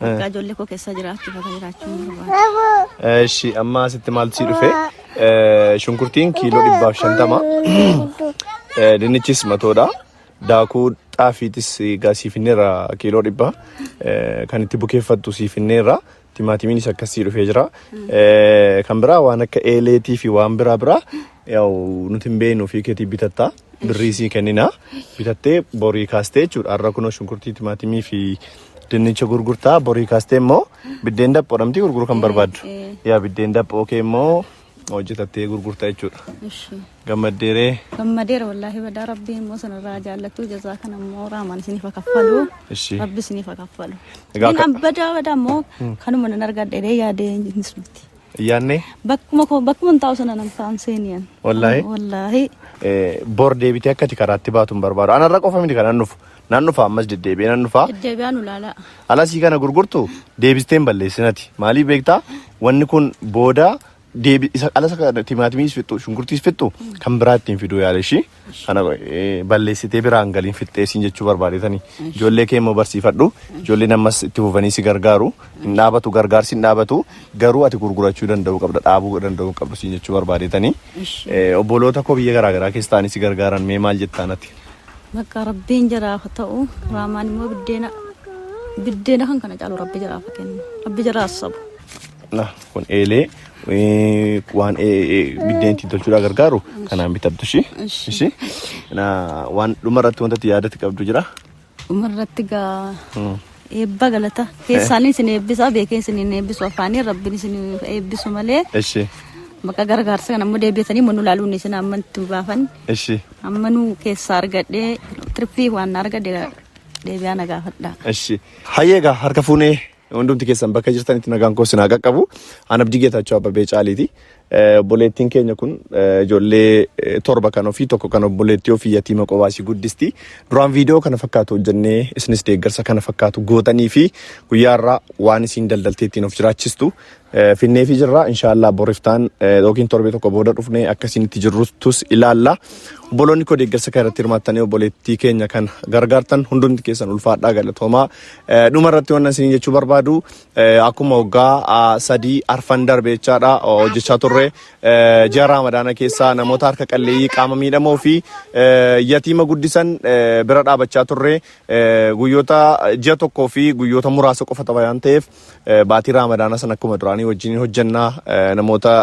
Bakka ijoollee koo keessa jiraachuuf akka jiraachuun barbaada. Eshi amma asitti maaltu si dhufe? Eh, Shunkurtiin kiiloo dhibbaaf shantama. Eh, Dinnichis matoodha. Daakuu xaafiitis egaa sii finneerra kiiloo dhibba. Eh, Kan itti bukeeffattu sii finneerra. Timaatimiinis akkas sii dhufee jira. Eh, Kan biraa waan akka eeleetii fi waan biraa biraa yaa'u nuti hin beeknu fi keetii bitatta. birrii sii kennina bitattee borii kaastee jechuudha har'a kunoo shunkurtii timaatimii fi dinnicha gurgurtaa borii kaastee immoo biddeen daphoo dhamtii gurguruu kan barbaaddu yaa biddeen daphoo kee immoo hojjetattee gurgurtaa jechuudha Ishi. gammaddeeree Gammadeera wallaahi badaa rabbii immoo sanarraa jaallattuu jazaa kana immoo raamaan isiniif haa kaffalu. Ishi. Rabbi isiniif haa kaffalu. Egaa Inni ka- an badaa badaa immoo kanuma nan argadhe dee yaadee hin sumti. Yaannee Bakkuma koo bakkuma hin taa'u sana nan taa'an seeniyan. Wallaahi? Wallaahi. eh, bor deebitee akka itti karaatti baatu hin barbaadu. Anarra qofa miti kan nan dhufu. Nan dhufa ammas deddeebi'ee nan dhufa. Deddeebi'aa nu laalaa. Alasii kana gurgurtu deebistee hin balleessinati. Maaliif beektaa? Wanni kun booda deebi isa alasa kana timaatimiis fixxu shunkurtiis fixxu kan biraa ittiin fiduu yaala ishii. Kana balleessitee biraan galiin fixxee siin jechuu barbaadetani. Ijoollee kee immoo barsiifadhu. Ijoolleen ammas itti fufanii si gargaaru. Hin dhaabatu gargaarsi hin dhaabatu. Garuu ati gurgurachuu danda'uu qabda. Dhaabuu danda'uu hin qabdu siin jechuu barbaadetani. Obboloota koo biyya garaa garaa keessa ta'anii si gargaaran mee maal jettaan ati? Bakka rabbiin jaraaf haa ta'u raamaan immoo biddeena biddeena kan kana caalu rabbi jaraaf haa kennu rabbi jaraaf sabu. Kun eelee waan biddeen ittiin tolchuudhaa gargaaru kanaan bitattu ishii. Ishii. Waan dhuma irratti wanta itti yaadatti qabdu jira. Dhuma irratti gaa eebba galata keessaan isin eebbisa beekee isin hin eebbisu afaanii rabbiin isin eebbisu malee. Ishii. Bakka gargaarsa kana ammoo deebi'atanii mannu laaluun isin amma itti baafan. Ishii. Amma nu keessaa argadhee tirfii waan argadhe deebi'aa na gaafadha. Ishii. Hayyee gaa harka fuunee Hundumti keessan bakka jirtanitti nagaan koo sinaa qaqqabu. An Abdii Geetaachoo Abbabee Caaliiti. Eh, Obboleettiin keenya kun eh, ijoollee eh, torba kan ofii tokko kan obboleettii ofii yatiima qobaasii guddisti. Duraan viidiyoo kana fakkaatu hojjennee isinis deeggarsa kana fakkaatu gootanii fi guyyaa irraa waan isiin daldaltee ittiin of jiraachistu Finneefi jirra inshaallah boriftaan yookiin torbee tokko booda dhufnee akka isinitti jirruttus ilaalla. Obboloonni koo deeggarsa kana irratti hirmaattanii obboleettii keenya kan gargaartan hundumti keessan ulfaadhaa galatoomaa. Dhuma irratti waan isin jechuu barbaadu akkuma waggaa sadii arfan darbe jechaadha hojjechaa turre ji'a raamadaana keessaa namoota harka qalleeyyii qaama miidhamoo fi yatiima guddisan bira dhaabachaa turre guyyoota ji'a tokkoo fi guyyoota muraasa qofa waan ta'eef baatii raamadaana sana akkuma duraanii wajjin hojjenna namoota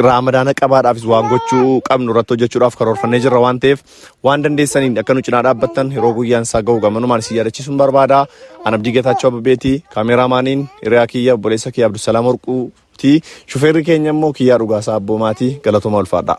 raamadaana qabaadhaafis waan gochuu qabnu irratti hojjechuudhaaf karoorfannee jirra waan ta'eef waan dandeessaniin akka nu cinaa dhaabbattan yeroo guyyaan isaa ga'u gamanumaan isin yaadachiisuun barbaada. An Abdii Geetaachoo Abbeeti kaameraamaaniin hiriyaa kiyya obboleessa kiyya Abdusalaam Warquuti shufeerri keenya immoo kiyyaa dhugaasaa abboomaati galatoomaa ulfaadhaa.